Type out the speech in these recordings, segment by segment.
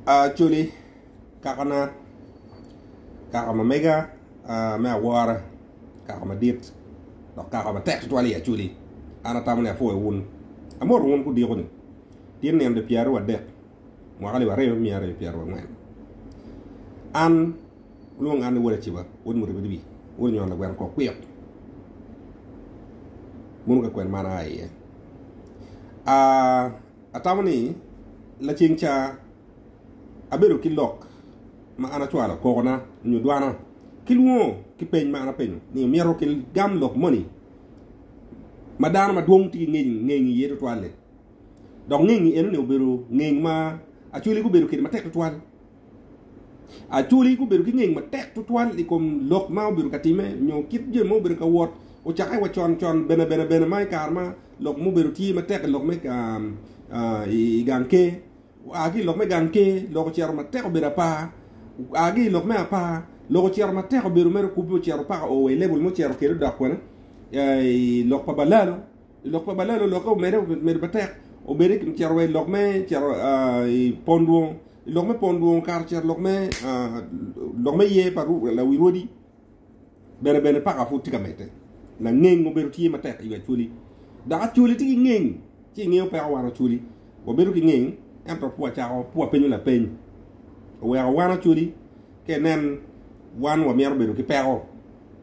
Acholi, kakana, kaka ma mega me awora, kaka madit, dok kaka matek tutwal i Acholi, an atamo ni apwoyo wun. Amoto wun gudiko ni, tye nino di pyeraryo wadek, mwaka alip aryo miya aryo pyeraryo angwen. An, wulwong an ni Wod Aciba, Wod Muribiribi, Wod Onyono Lagweno Kor Kwik. Mono ka kwena ma an aa iye. atamo ni laceng ca abedo ki lok ma an acwalo kokona nyo dwana ki lwongo ki peny ma an apenyo ni myero ki gam lok moni ma dano ma dwong tye ki ngeng iye tutwal-li. Dok ngeng-ngi eno ni obedo ngeng ma acholi gubedo kede matek tutwal. Acholi gubedo ki ngec matek tutwal i kom lok ma obedo ka timme nyo kit jami ma obedo ka wot. Ocakke wa con con bene bene bene ma i kare ma lok mubedo tye matek i lok me i gang ker. Oa ki i lok me gang ker lok ocito matek obedo apar. Oa ki i lok me apar lok ocito matek obedo mere kubbe ocito paka o wa i lebol mucito kwede odok kwene i lok pa balalo. Lok pa balalo olokke omedde obedo matek obedde ki cito wa ilok me cito i pon dwong ilok me pon dwong kare ocito lok me lok me yer pa lawi rwodi bene bene paka pud tye ka medde langeng obedo tye matek i wi Acholi dok Acholi tye ki ngeng ci ingeyo peko wan Acholi wabedo ki ngeng ento pud wacako pud wapenyo lapeny oweko wan Acholi ka inen wan wamito bedo ki peko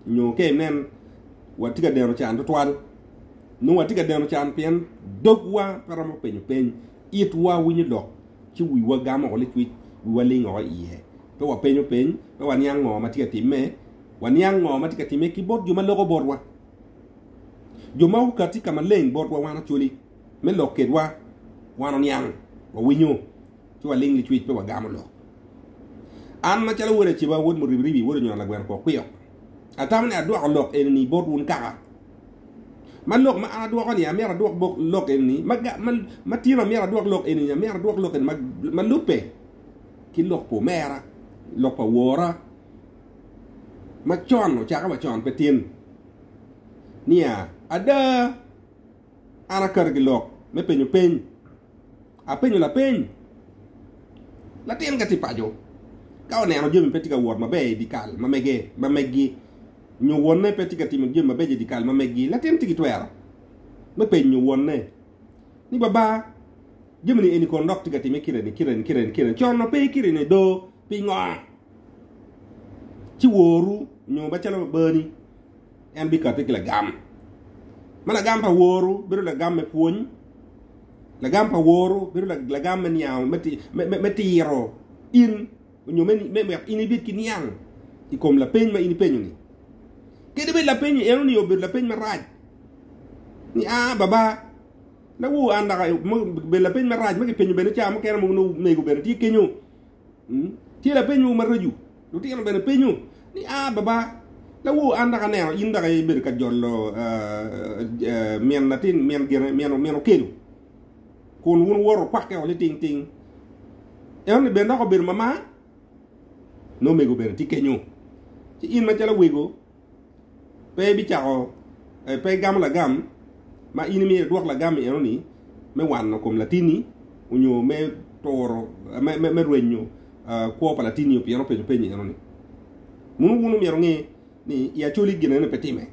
nyo ka inen watye ka deno can tutwal, nongo watye ka deno can pien dogwa pe romo penyo peny, itwa winyo lok, ci wiwa gamo woko licwic, wiwa ling woko iye. Pe wapenyo peny, pe waniang ngo ma tye ka timme, waniang ngo ma tye ka timme ki bot jo ma loko botwa, jo ma okati ka maleng botwa wan Acholi me lok kwedwa, wan oniang, wawinyo. ci waling licwic pe wagamo lok. An macalo wod Aceba, wod Muribiribi, wod Onywero Lagweno Kwok Kwiyok, atamo ni adwoko lok eni-ni bot wun kaka. Ma lok ma an adwoko-ni, amyero adwok lok eni-ni, ma, ma, ma tino amyero adwok lok eni-ni, amyero adwok lok eni ma, ma lubbe ki lok pa omera, lok pa wora, ma con ocake wa con pe tin, niya, Ada, an akato ki lok me penyo peny. Apenyo lapeny, Latin ka tye paco, ka oneno jami pe tye ka wot maber i dyekal ma meggi, nyo wonne pe tye ka timo jami mabeco i dyekal ma meggi, latin tye ki twero me penyo wonne ni, Baba, jami-ni eni kono dok tye ka timme kite-ni, kite-ni, kite-ni, kite-ni, con-o pe kite-ni do, pingo? Ci woru onyo macalo babani. en bikate ki lagam. Ma lagam pa woru bedo lagam me pwony, lagam pa woru bedo lagam me niang me tiro in onyo me wek in ibed ki niang i kom lapeny ma in ipenyo ni. Kede bed lapeny ni eno ni obedo lapeny marac ni a baba na wor an daka bedo lapeny marac ma kipenyo bene ca mukene mego bene tye kenyo. Tye lapeny mogo maraco, lutino bene penyo ni, Ah, Baba, lawor, an dok aneno in dok ibedo ka jolo min latin, min gine, min okelo, kun wun woro wukwakke-o niting ting. Enoni bene dok obedo mamar? Nongo omego bene tye kenyo, ci in macalo wego. pe bicako eh, pe gamo lagam ma in imyero idwok lagam-mi enoni me wano kom latinni onyo me turo eh, me, me, me rwenyo ah, kwo pa latinni pien openyo penyo enoni. Munu wun omyero nge ni i acoli gin enoni pe time.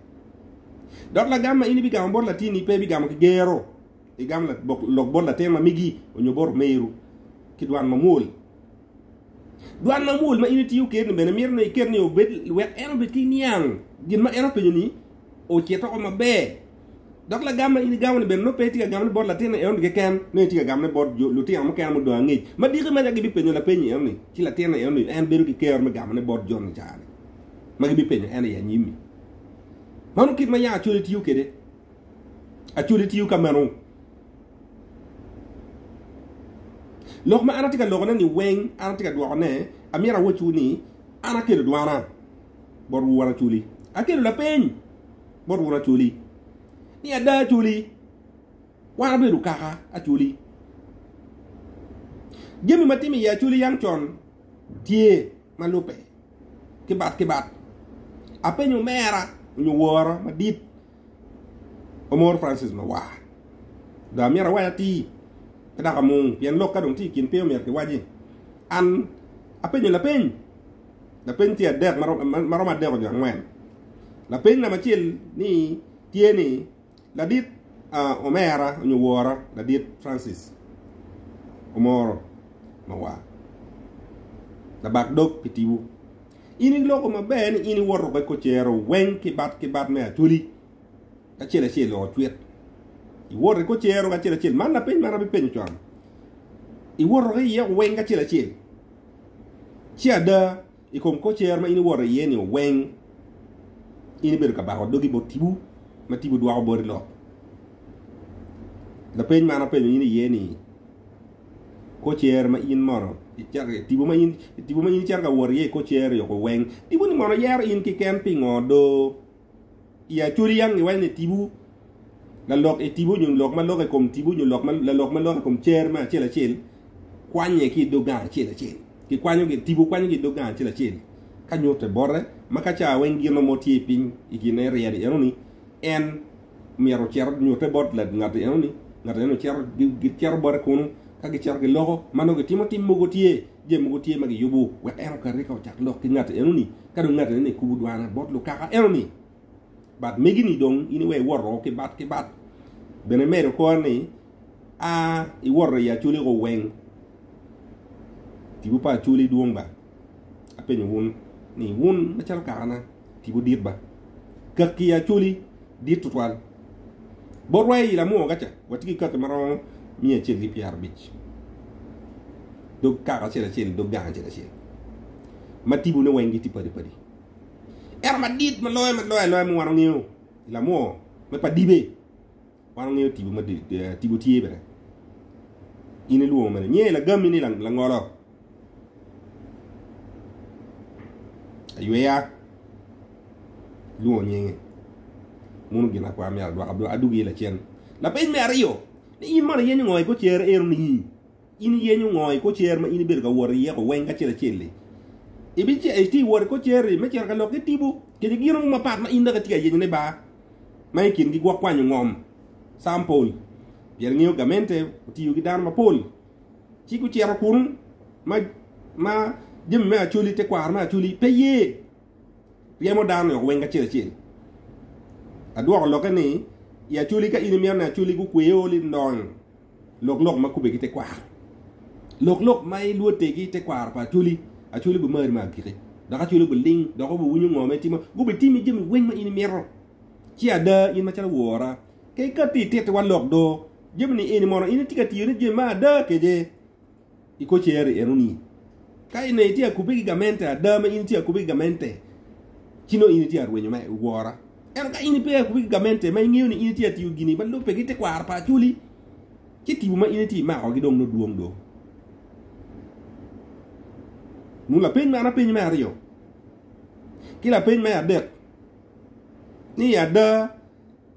Dok lagam ma in ibigamo bot latinni pe ibigamo ki gero, igamo la- bok- lok bot latin ma megi onyo bot omeru ki dwan mamwol. Dwan ma mwol ma in itiyo kede-ni bene mito ni iket ni obed wek en obed ki niang gin ma en openyo-ni ocit oko maber. Dok lagam ma in igamo-ni bene nongo pe itye ka gamone bot latinni enoni keken, nongo itye ka gamone bot lutino mukene mudong angec ma diki ma nongo gibipenyo lapeny enoni, ci latinni enoni en bedo ki kero me gamone bot jo-ni i kare-ni ma gibipenyo en i anyim-mi. Mano kit ma yam acoya itiyo kede. Actually tiyo ka meno. Lok ma an atye ka lokone ni weng an atye ka dwokone, amyero awocwu ni an akelo dwana bot wun Acholi. Akelo lapeny bot wun Acholi. Ni ada Acholi, wan abedo kaka Acholi. Jami ma timo iye Acholi yang con tye ma lube ki bat ki bat. Apenyo omera nyo wora madit Omoro Francis lawar, dong amyero awany atir ki dok amung pien lok ka dong tye i kin pe omyero kiwaci. An apenyo lapeny, lapeny tye adek ma romo adek nyo angwen. Lapeny namba acel ni tye ni ladit omera nyo wora ladit Francis Omoro mawar labak dog pi tibu In iloko maber ni in iwoto wek ocero weng ki bat ki bat me Acholi acel acel o cwit. Iwoto ki ocero acel acel. Man na piny man abi penyo con. Iwoto ki iye weng acel acel. Ci ada i kom kocero ma in iwoto iye ni weng in ibedo ka bako dogi bot tibu ma tibu dwoko boti lok. Lapeny man apenyo in iye ni kor cer ma in mono tipo ma in tipo ma in icito ka wot iye i kor cer yo kuweng tipo ni mono yero in kiken pingo do i acodi yang iweny ni tipo lalok i tipo nyo lok ma lok i kom tipo nyo lok ma lalok ma lok i kom cer me acel acel kwanye ki dog gang acel acel ki kwanyo ki tipo kwanyo ki dog gang acel acel ka nyute bote ma ka ca weng gino mo tye piny i kine ryeri eno ni en myero ocito nyutte bot ngat eno ni ngat eno cito gicito bote kunu ka gicito ki loko ma nongo gitimo tim mogo tye jami mogo tye ma giyubo wek en okati ka ocak lok ki ngat eno ni ka dong ngat eno ni kubo dwana bot lukaka eno ni bat megi ni dong in iwe iwoto ki bat ki bat bene medo kore ni a iwoto i aculi ko weng tipo pa aculi dwong ba apenyo wun ni wun macalo kakana Tipo dit ba! Kaki i Acholi dit tutwal. Bot wa i Lamwoga ca, watye ki kaki ma romo miya acel ki pyerabic, dog kaka acel acel, dog gang acel acel, ma tipone weng gitye padi padi. Ento madit ma loyo ma loyo aloya ma wan wangeyo i Lamwo me pa Dibe, Wan wangeyo tipo ma tipo tye bene. In ilwongo mene nye lagami ni langolo. Ayweya ilwongo nyinge. Mono gin akwar me adwaka adwogi lacen. Lapeny me aryo, ni in mono iyenyo ngo i gocere eno ni? In iyenyo ngo i kor cer ma in ibedo ka wot iye ko weng acel acel-li? Ibice iti i wot i kor cer-ri me cito ka lok ki tipo kede gino mo mapat ma in dok itye ka yenyo ni bar, ma i kingi gwok kwanyo ngom, sample, pien ngeyo gamente otiyo ki dano mapol ci gucito kun ma ma jami me acholi, tekwaro me acholi, pe ye? Ryemo dano-ni woko weng acel acel. Adwoko lokke ni, I Acholi, ka in imito ni Acholi gukwe ori, dong lok lok ma kubbe ki tekwaro. Lok lok ma ilwote ki tekwaro pa Acholi, Acholi bimari me agikki, dok Acholi biling dok obiwinyo ngo ma itimo, gubitimi jami weng ma in imito. Ci ada, in macalo wora, ka ikatti itittiwa lok do, jami-ni eni mono in itye ka tiyo ni jami ma ada kece? i kor cer enoni. Ka in itye ka kubbe ki gamente ada ma in itye ka kubbe ki gamente, ci nongo in itye ka rwenyo me wora. Ento ka in pe ka kubbe ki gamente ma ingeyo ni in itye ka tiyo gini ma lubbe ki tekwaro pa Acholi, ci tipo ma in itye ka makogi dong nongo dwong do. Nunu lapeny man apenyi me aryo. Ki lapeny me adek ni ada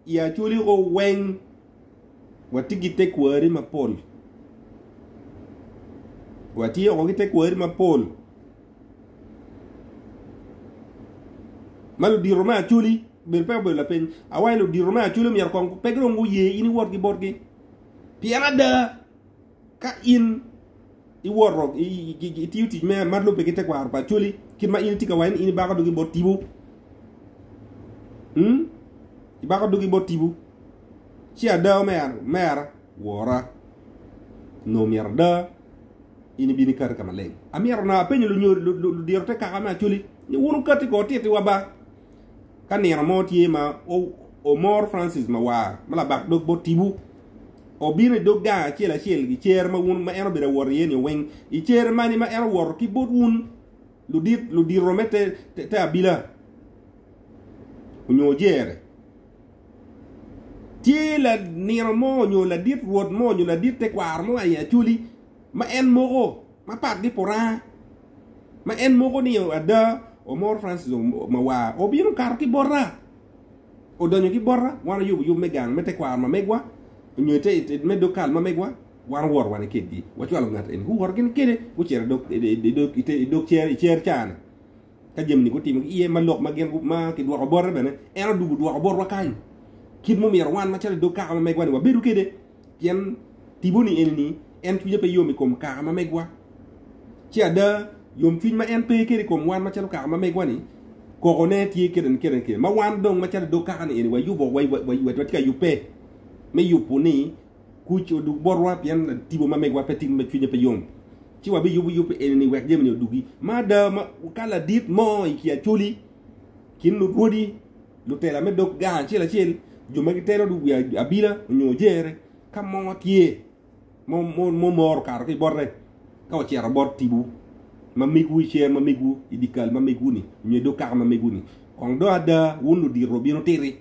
i Acholi oweng. watye ki tekwari mapol. Watye woko ki tekwari mapol. Ma ludito me acoli bedo pe obedo lapeny. Awaci ludito me acoli myero kong pe dong guye in iwot ki botgi. Pien ada. Ka in iwoto itiyo tic me ma lubbe ki tekwaro pa Acholi, kit ma in itye ka waco ni in ibako dugi bot tipo, hmm? ibako dugi bot tipo, ci ada omera wora nongo myero ada in ibino ikati ka maleng. Amyero na apenyo ludiro te kaka me Acholi ni wun wukati ko titiwa ba Ka nino mo tye ma omor Francis Mawar ma labak dog bot tipo, obino i dog gang acel acel i cere ma wun ma en obedo awot iye ni weng. I cere mani ma en owoto ki bot wun ludit ludito me te abila onyo ojere, tye lanino mo onyo ladit rwot mo onyo ladit tekwaro mo aye Acholi ma en moko. mapat ki Puranga ma en moko ni ada Omoro Francis Mawar obino okato ki bota, odonyo ki bota wan oyubo yub me gang me tekwaro ma megwa onyo me dog kal ma megwa wan owoto wan ikedgi wacwalo ngat eni guwoto gin kede gucito i dog cer cani ka jami ni gutimo ki iye ma lok ma gin ma kidwoko bote bene en odwogo dwoko botwa kany kit mumito wan macalo i dog kaka ma megwa ni wabedo kede pien tipo-ni eni ni en cwinye pe yom i kom kaka ma megwa. Ci ada, yomcwiny ma en pe kede i kom wan macalo kaka ma megwa-ni, kokone tye kene kene, ma wan dong macalo i dog kaka-ni eni wayubo, watye ka yubbe me yubo ni kuc odug botwa pien tipo ma megwa pe timo ma cwinye pe yom. Ci wabiyubo yub eni-ni wek jami-ni odugi. Ma ada, ka ladit mo i kin acoli, kin lurwodi, lutela me dog gang acel acel, jo ma gitelo wi abila nyo jere ka mo tye mumoro kato ki bote ka ocito bot tibu ma migwu i cer ma migwu i dikal ma migwu ni nyo dog kaka ma migwu ni kong do ada wun ludiro bino titi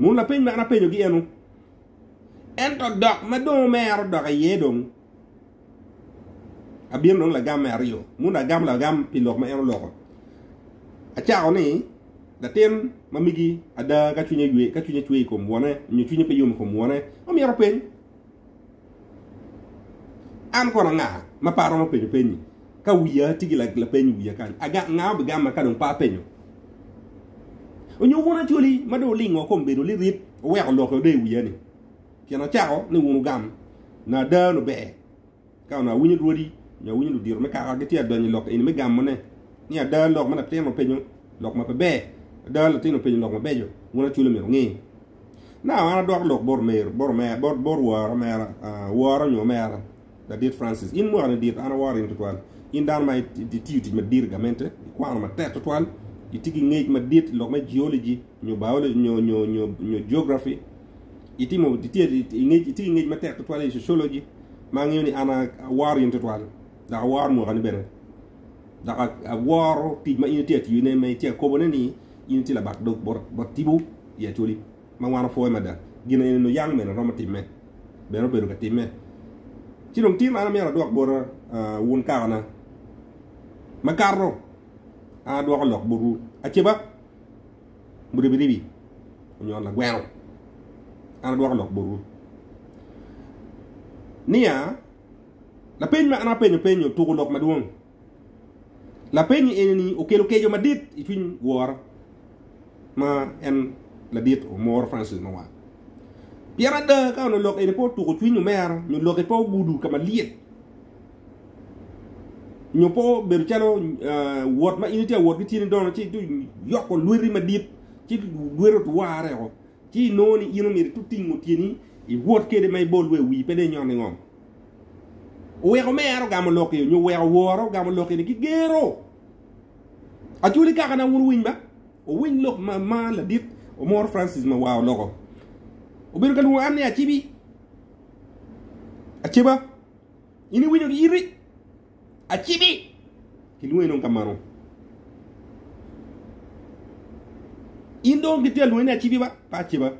mun lapeny ma an apenyo gi enu ento dok ma dong omero dok iye dong Abino nongo lagam me aryo mono agam lagam pi lok ma en oloko. Acako ni latin ma migi ada ka cwinye ywe, ka cwinye cwe i kom wone, nyo cwinye pe yom i kom wone, omyero peny. An kono anga ma pe aromo penyo penyi? Ka wiya tye ki lapeny i wiya kany, anga ma bigama ka dong pe apenyo? Onyo wun acoli ma dong olingo kom bedo lirit oweko lokke ode i wiya ni? Pien acako ni wun wugam na ada onongo ber ka onongo awinyo rwodi nyo awinyo ludito me kaka gitye ka donyo i lok eni me gamone, ni ada lok ma latin openyo lok ma pe ber, ada latin openyo lok mabeco, wun acwali myero wunge. Naka an adwoko lok bot omera, bot wora, omera, wora nyo omera, Ladit Francis, in mwakani dit an aworo in tutwal. In dano ma itiyo tic madit i gamente, ikwano matek tutwal, itye ki ngec madit i lok me geology nyo biology nyo nyo nyo nyo geography. Itimo itye ingec itye ingec matek tutwal i sociology ma angeyo ni an aworo in tutwal. Dok aworo mwakani bene. Dok aworo tic ma in itye atiyone ma itye akobone ni in itye labak dog bot bot tipo i acholi. ma wan opwoyo mada, gin eni onongo yam omene romo timme, bene obedo ka timme. Ci dong tim an amyero adwok bota wun kakana. Makato, an adwoko lok botwu aceba, muribiribi onyo lagweno, an adwoko lok botwu niya, lapeny ma an apenyo penyo tuko lok madwong. Lapenyo eni-ni okelo keco madit i cwiny woro ma en ladit Omoro Francis Mawar. Pien ada ka onongo lok eni pe otuko cwiny omera nyo lokke pe ogudo ka malyet nyo pe obedo calo wot ma in itye ka wot ki tyeni dono ci yoko lweti madit ci lweti otwarre woko ci inongo ni in omyero itingo tyeni iwot kwede ma ibol wa i wii pe dong inyot ningom. Oweko mer ogamo lok-ki, onyo oweko woro ogamo lok-ki ni gigero. Acwali kaka na wun wuwiny ba, wuwiny lok ma ma ladit Omoro Francis ma waa oloko. Obedo ka lwongo an ni Acibi, Aceba, in iwinyo gi iti? Acibi kilwonge dong ka mano. In dong gitye alwonge ni acibi ba, pe aciba.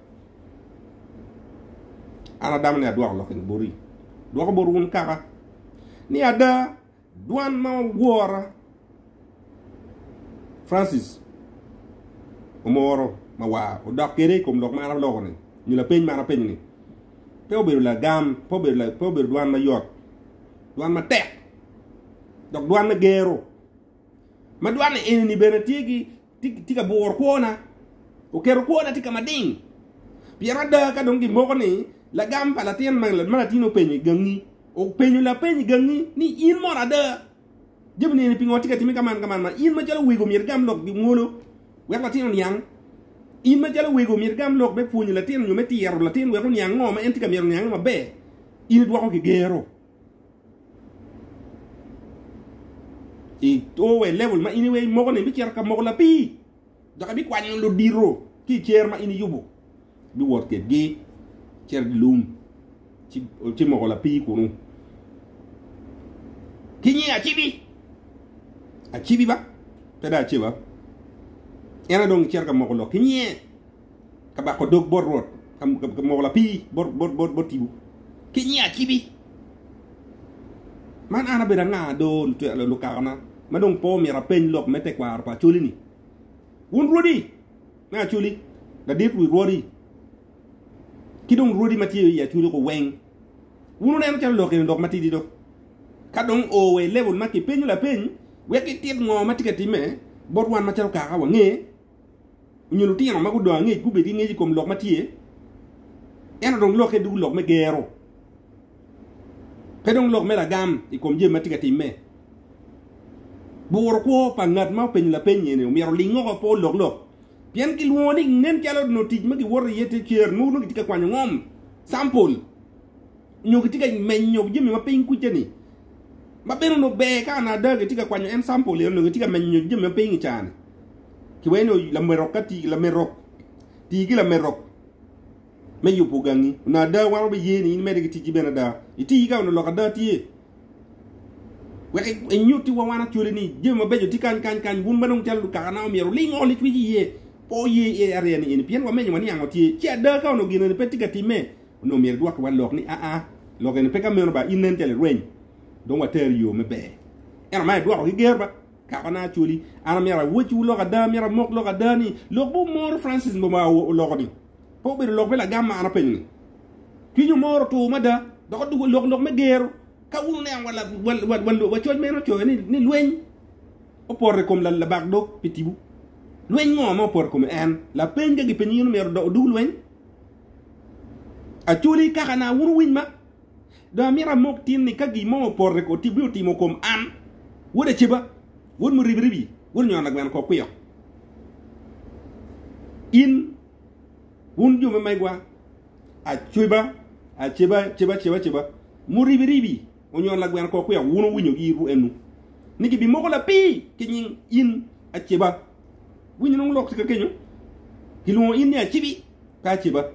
An adamo ni adwoko lok eni boti. Dwoko bot wun kaka. Ni ada, dwan ma wora Francis omoro mawar odok kede i kom lok ma an aloko-ni nyo lapeny ma an apenyo-ni. Pe obedo lagam, pe obedo, pe obedo dwan mayot, dwan matek, dok dwan me gero. Ma dwan eni bene tye ki tye ka buro kwona, oketo kwona tye ka mading. Pien ada ka dong gimoko ni lagam pa latin ma latin openyo i gangi, openyo lapeny i gangi ni in mono ada Jabu nene pingo watye ka timme ka man ka man ma in macalo wego myero igam lok gi mwolo wek latin oniang. In macalo wego myero igam lok me pwonyo latin nyo me tiro latin wek oniang ngo ma en tye ka myero oniange maber. In idwoko ki gero. I owe level ma in iwe imoko ni bicito ka moko lapii. dok ebikwanyo ludito ki i cer ma in iyubo. Biwot kwedgi cito i lum, ci moko lapii kunu. Ki nyi Acibi, Acibi ba, pe dong Aceba, en aye dong cito ka moko lok ki nyiye. ka bako dog bot Rwot, ka moko lapii bot tipo, ki nyiya acibi. Man an abedo anga do lukakana, ma dong po omyero apeny lok me tekwaro pa Acholi-ni? Wun rwodi me Acholi, ladit wi rwodi, ki dong rwodi ma tye i Acholi ko weng, wun wuneno calo lok eni lok matidi do? Ka dong oo wa i level ma kipenyo lapeny wek itit ngo ma tye ka timme bot wan macalo kaka wange, Onyo lutino ma gudongo angec gubed ki ngec i kom lok ma tye, ento dong lokke ducu lok me gero, pe dong lok me lagam i kom jami ma tye ka timme. Buro kwo pa ngat ma openyo lapeny eni omyero oling oko pe oloklok, pien kilwongo ni nen calo nongo tic ma giwoto iye tye cer, nongo gitye ka kwanyo ngom, sample. nyo kitye ka menyo jami ma piny kuca ni ma bene onongo ber ka ana ada kitye ka kwanyo en sample eno onongo kitye ka menyo nyo jami ma piny i cani ki weno lamerok ka ti lamerok ti ki lamerok me yubo gangi onongo ada wan wabe ye ni in imede ki ticci bene ada iti ka onongo lok ada tye wek inyuti wa wan acwali ni jami mabeco tye kany kany kany wun madong calo lukaka na omyero ling oli cweci iye po ye iye arya ni eni pien wamenyo wa ni ango tye ci ada ka onongo gin eni pe tye ka time Onongo myero idwokki wan lok ni, 'Aa, lok eni pe ka meno ba, in nen calo irweny, dong wateri i yo me ber. Ento man idwoko ki ger ba, 'Kakona Acholi, an amyero awocciwu lok ada, amyero amok lok ada ni, lok ma omoro Francis Mboma oloko-ni, pe obedo lok me lagam ma an apenyo-ni. Cwiny omoro otur mada, dok odwogo lok lok me gero. Ka wun wuniang wacoc ma en ocoyo ni lweny opoto i kom labak dog pi tibu, lweny ngo ma opoto i kom en? Lapeny ka gipenyo in omyero odug lweny? Acholi kaka na wun wuwiny ma. Dong amito amok tin ni ka gin mo opore ko tibbi otimo kom an, wod Aceba, wod Muribiribi, wod Nyono Lagweno kor kwiyok. In, wun jo me megwa, Aceba, Aceba, Ceba, Ceba, Ceba, Muribiribi, Onyono Lagweno kor kwiyok, wun wuwinyo gi itwu enu ni gibimoko lapii ki nying in Aceba. Winyo nongo lok tye ka kenyo. Gilwongo in ni Acibi. Ka ce ba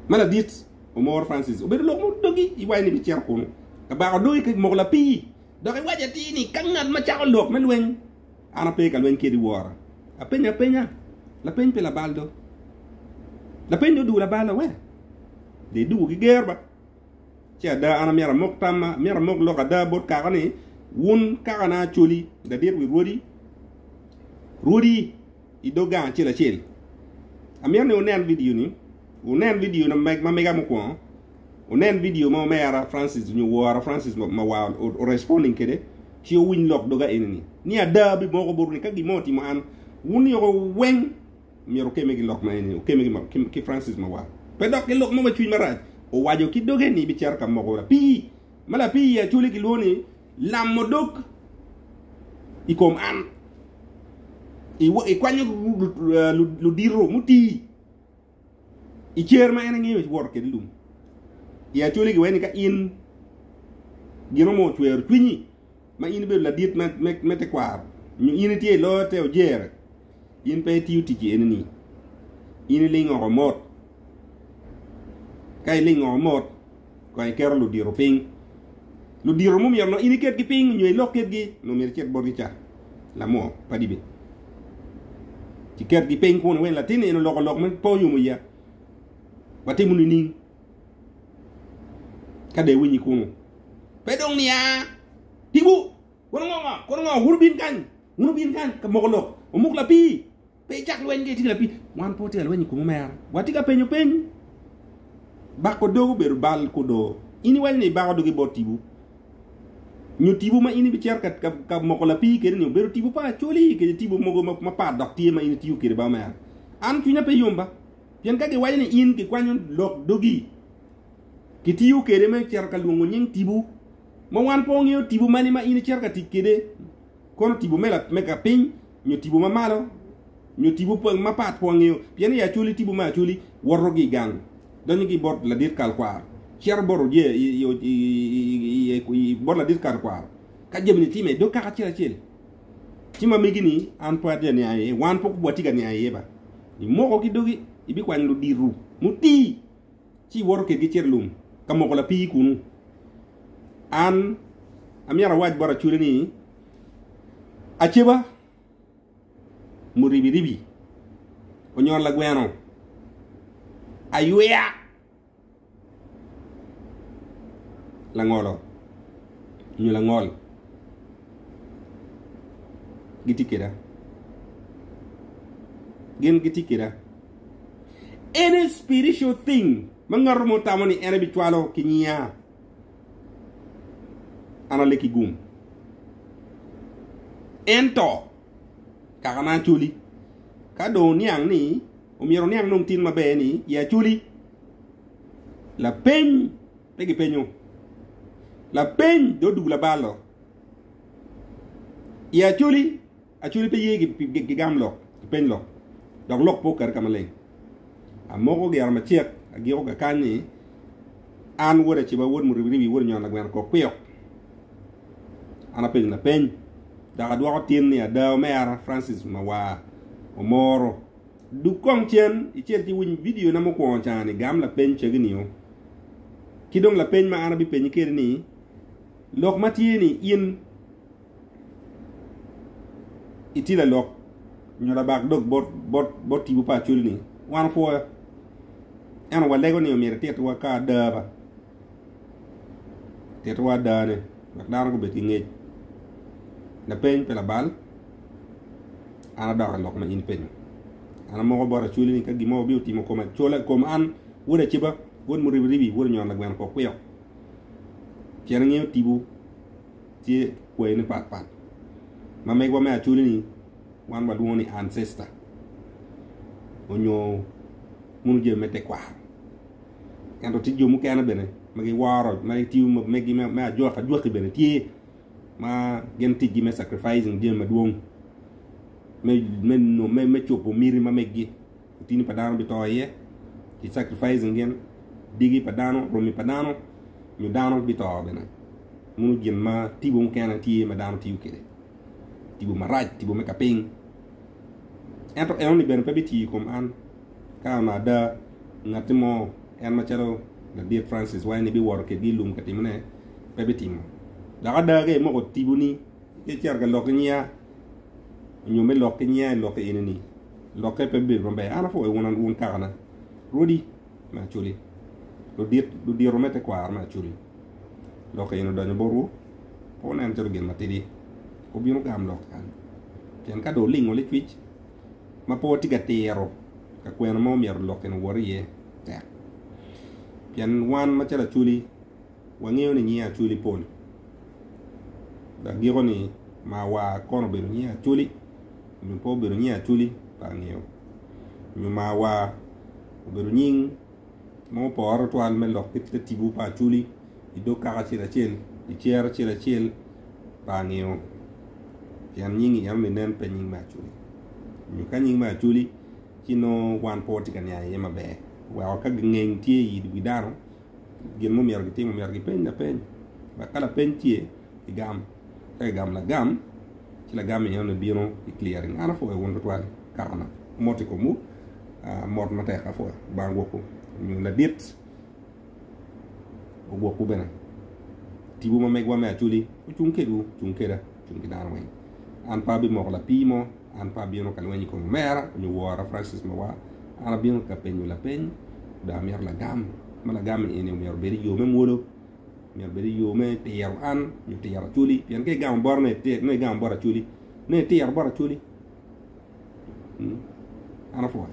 ma ladit Omoro Francis obedo lok mudogi iwaco ni bicito kunu ka bako dog i kec moko lapii dok iwaco atir ni ka ngat ma cako lok me lweny an ape ka lweny kedi wora apenyo apenya lapeny pi labal do lapeny do dugo labal awe de dugo ki ger ba ce ada an amyero amok tamma amyero amok lok ada bot kaka ni wun kaka na acoli ladit wi rwodi rwodi i dog gang acel acel. Amito ni wunen vidio ni, wunen vidio na meg, ma mega mukwongo, wunen vidio ma omera Francis onyo wora Francis ma, ma wa o- o responding kede, ci wuwiny lok doga enini. Ni ada abimoko botwu ni ka gin mo otimo an, wun yoko weng myero wukeme ki lok ma enini, wukeme ki, ma, ki, ki Francis ma wa. Pe dok ki lok mo ma cwiny marac owaco ki doge ni bicito ka moko wora. Pi. ma lapii i Acholi gilwongo ni lam odok i kom an. Ikwanyo ludito mutii i cer ma en engeyo iwoto kede lum. I Acholi giwee ni ka in gin onongo ocwero cwinyi ma in ibedo ladit me tekwaro nyo in itye i loyo te ojere. In pe itiyo ticci enini, in iling oko mot. Ka iling oko mot, kong iketo ludito piny. Ludito ma omyero nongo in iketgi piny nyo ilok kitgi, nongo myero icit botgi ca lamo pa dibi. Ci ketgi piny kunu wek latinni en oloko lok me po nyo muya. Watimo nining? Ka dong iwinyi kunu, pe dong niya, Tibu, kono ngo, kono ngo, wun wubin kany. Wun wubin kan ka moko lok, wumuk lapii. Pe icak lweny ka itye ki lapii. Wan pe watye ka lweny i kom omera. Watye ka penyo penyo. Bako dog obedo bal kudo. In iwaco ni ibako dogi bot tipo. Nyo tipo ma in ibicito ka, ka, ka moko lapii kede ni obedo tipo pa Acholi kede tipo mogo ma, ma pat dok tye ma in itiyo kede ba omera. An cwinya pe yom ba. Pien ka giwaco ni in kikwanyo lok dogi, kitiyo kede me cito ka lwongo nying tipo, ma wan pe wangeyo tipo mani ma in icito ka tic kede. Kono tipo me kapiny nyo tipo ma malo nyo tipo mapat pe wangeyo pien i Acholi tipo me Acholi woto ki i gang donyo ki i bot ladit kal kwaro cito bot oye i bot ladit kal kwaro ka jami ni time dog kaka acel acel ci ma megi ni an pe atye ka niang iye wan pok watye ka niang iye ba imoko ki dogi ibikwanyo luditu mutii. ci iwoto kedgi icito i lum ka moko lapii kunnu. An amyero awac bot acwele ni, Aceba, muribiribi, onyon lagweno, ayweya, langolo, nyo langol gitye keda. Gin gitye keda. En aye spiritual thing ma ngato mo tamo ni en ebicwalo ki nyinga. An alek ki gum. Ento kaka na aculi ka dong oniang ni omyero oniang nong tin maber ni ye aculi. Lapeny pe gipenyo. Lapeny dong odugu labalo. Ye aculi. Acholi pe ye gigam lok ki peny lok, dok lok pe okati ka maleng. Amoko giro macek, agiko ga kany ni, An wod Aciba, wod Muribiribi, wod Onyon Lagweno kor kwiyok. An apenyo lapeny, dok adwoko tin ni ada omera Francis Mawar Omoro. Dug kong cen icit ci winy vidiona mukwongo cani, gam lapeny cagi nio. Ci dong lapeny ma an abipenyi kede ni, Lok ma tye ni in, itye lalok nyo labak dog bot tipo pa Acholi-ni, wan opwoyo. Ento walego ni omyero etitwa ka ada ba, titwa adane wek dano gubed ki ngec. Lapeny pa labal, an adok i lok ma in ipenyo. An amoko bot Acholi ni ka gin mo wabino timo kom Achola, kom an wod Aciba, wod Muribiribi, wod Onyon Lagweno Kokwio, pien angeyo tipo. tye kwayine pat pat. Ma megwa me Acholi ni wan wa lwongo ni Ancestor onyo munu jami me tekwaro. Ento tye jo mukene bene ma gi woro ma gi tiyo ma megi me ajwaki ajwaki bene tye ma gin ticgi me sacrificing jami madwong me me me me cobo miti ma megi otini pa dano bito iye, ki sacrificing gin, digi pa dano, romi pa dano, nyo dano bito bene. Munu gin ma tibo mukene tye ma dano tiyo kede. Tibo marac, tibo me kaping. Ento eno ni bene pe bitiyo i kom an. Ka an ada, ngatti mo, en macalo Ladit Francis Wine biwoto kedgi i lum ka timone, pe bitimo. Dok ada ka imoko tiboni, Pe icito ka lok ki nyiya nyo me lok ki nyiya i lok eni ni lokke pe bedo maber. An apwoyo wun an wun kakana. Rwodi me Acholi. Ludit ludiro me tekwaro me Acholi. Lok eni odonyo botwu. Pe wunen calo gin matidi. Wubino gam lok kany. Pien ka dong olingo licwic ma pe watye ka tiro ka kwena ma omyero lok eni owot iye tek. Pien wan macalo Acholi Wangeyo ni nyinge Acweli pol, dok giko-ni ma wa kono obedo nyinge Acweli nyo pe obedo nyinge Acweli pe angeyo. Nyo ma wa obedo nying ma opore tutwal me lok kit te tibu pa Acweli i dog kaka acel acel, i cere acel acel pe angeyo. Pien nyingi enoni nen pe nying me Acweli. Nyo ka nying me Acweli ci nongo wan pe watye ka niang iye maber. Weko ka gingeng tye i wi dano, gin ma omyero gitim omyero gipeny lapeny dok ka lapeny tye kigam ka kigamo lagam ci lagam enoni bino ki clearing an apwoyo wun tutwal kakana mot i komwu ah, mot matek apwoyo Lubanga ogwokwu nyo ladit ogwokwu bene tibu ma megwa me acholi ocung kedwu cung keda cung ki dano weng an pe abimoko lapii mo An pe abino ka lweny i kom omera nyo wora, Francis Mawar. An abino ka penyo lapeny, dong amito lagam. Ma lagam eni omyero obed i yo me mwolo, omyero obed i yo me tiro an, nyo tiro Acholi. Pien ka igamo bot me tiro, nongo igamo bot Acholi, nongo itiro bot Acholi. Hmm, an apwony.